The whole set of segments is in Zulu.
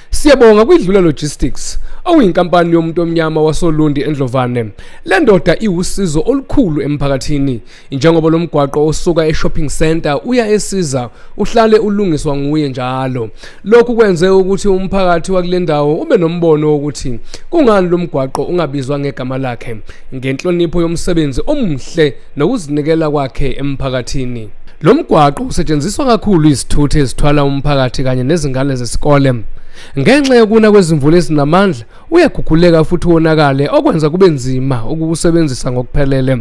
Siyabonga kwidlula logistics okuyinkampani yomuntu omnyama wasolundi endlovane le ndoda iwusizo olukhulu emphakathini njengoba lo mgwaqo osuka e-shopping center uya esiza uhlale ulungiswa nguye njalo lokhu kwenze ukuthi umphakathi wakule ndawo ube nombono wokuthi kungani lo mgwaqo ungabizwa ngegama lakhe ngenhlonipho yomsebenzi omuhle nokuzinikela kwakhe emphakathini. Lo mgwaqo usetshenziswa kakhulu izithuthi ezithwala umphakathi kanye nezingane zesikole. Ngenxa yokuna kwezimvula ezinamandla, uyaguguleka futhi wonakale okwenza kube nzima ukuwusebenzisa ngokuphelele.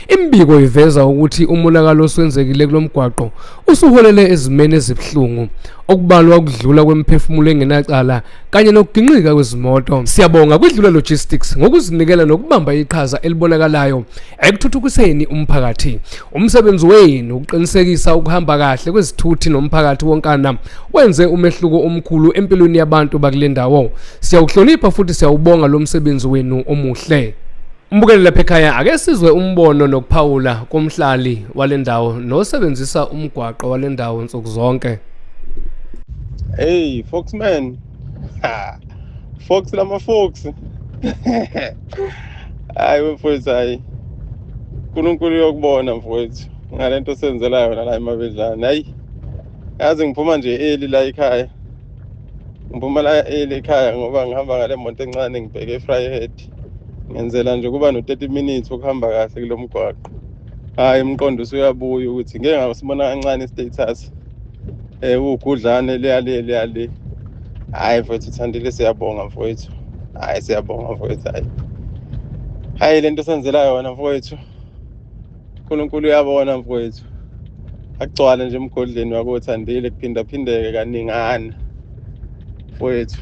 Imibiko iveza ukuthi umonakalo oswenzekile kulo mgwaqo usuholele ezimeni ezibuhlungu, okubalwa ukudlula kwemiphefumulo engenacala kanye nokuginqika kwezimoto siyabonga kwidlula logistics ngokuzinikela nokubamba iqhaza elibonakalayo ekuthuthukiseni umphakathi umsebenzi wenu ukuqinisekisa ukuhamba kahle kwezithuthi nomphakathi wonkana wenze umehluko omkhulu empilweni yabantu bakule ndawo siyawuhlonipha futhi siyawubonga lo msebenzi wenu omuhle Umbukeli lapha ekhaya ake sizwe umbono nokuphawula komhlali wale ndawo nosebenzisa umgwaqo wale ndawo nsuku zonke. Hey Foxman. Ha. Fox lama Fox. Hayi wemfowethu hayi. uNkulunkulu uyokubona mfowethu ngalento senzela yona la emabedlane. Hayi. Yazi ngiphuma nje eli la ekhaya. Ngiphuma la eli ekhaya ngoba ngihamba ngale moto encane ngibheke eFryhead. ngenzela nje kuba no-30 minutes okuhamba kahle kulo mgwaqo hhayi umqondo usuyabuya ukuthi ngeke ngakusibona kancane i-status um uwugudlane leyale leyale hhayi mfowethu uthandile siyabonga mfowethu hhayi siyabonga mfowethu hhayi hhayi le nto senzela yona mfowethu unkulunkulu uyabona mfowethu agcwale nje emgodleni wakothandile kuphindaphindeke kaningana mfowethu